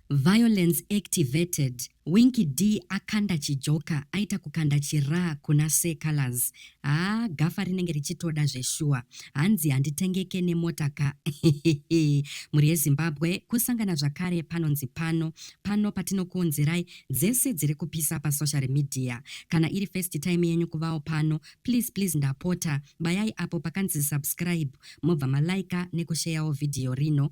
Violence activated, Winky Dee akanda chijoka aita kukanda chiraa kuna Sir Calaz. Haa gafa rinenge richitoda zveshuwa. Hanzi handitengeke nemota ka hehehe. Mhuri yeZimbabwe kusangana zvakare panonzi pano. Pano patinokuunzirai dzese dziri kupisa pasocial media. Kana iri first time yenyu kuvawo pano, please please ndapota bayai apo pakanzi subscribe mobva maliker nekusheyawo video rino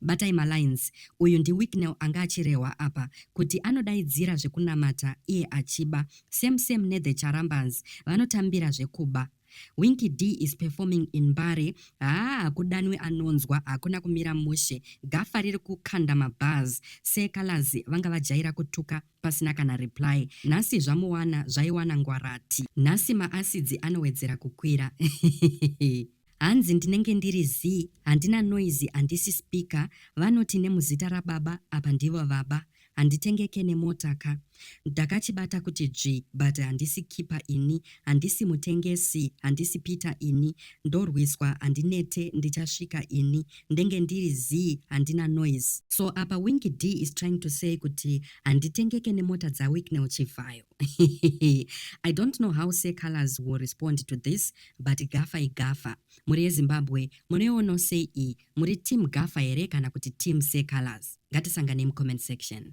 Batai ma lines. Uyu ndi Wicknell anga achirehwa apa kuti anodaidzira zvekunamata iye achiba same same ne the Charambans vanotambira zvekuba. Winky Dee is performing in Mbare haa hakudanwi anonzwa hakuna kumira mushe gafa riri kukanda ma bars Sir Calaz vanga vajaira kutuka pasina kana reply nhasi zvamuwana zvaiwana ngwarati nhasi ma acids anowedzera kukwira Hanzi ndinenge ndiri zii handina noise handisi speaker vanoti nemuzita rababa apa ndivo vaba handitengeke nemota ka ndakachibata kuti dzvi but handisi keeper ini handisi mutengesi handisi peter ini ndorwiswa handinete ndichasvika ini ndenge ndiri zii handina noise so apa winky d is trying to say kuti handitengeke nemota dzawicknel chivhayo i don't know how secolors will respond to this but gafa igafa mhuri yezimbabwe munoiono sei iyi muri team gafa here kana kuti team seecolors ngatisanganei mucomment section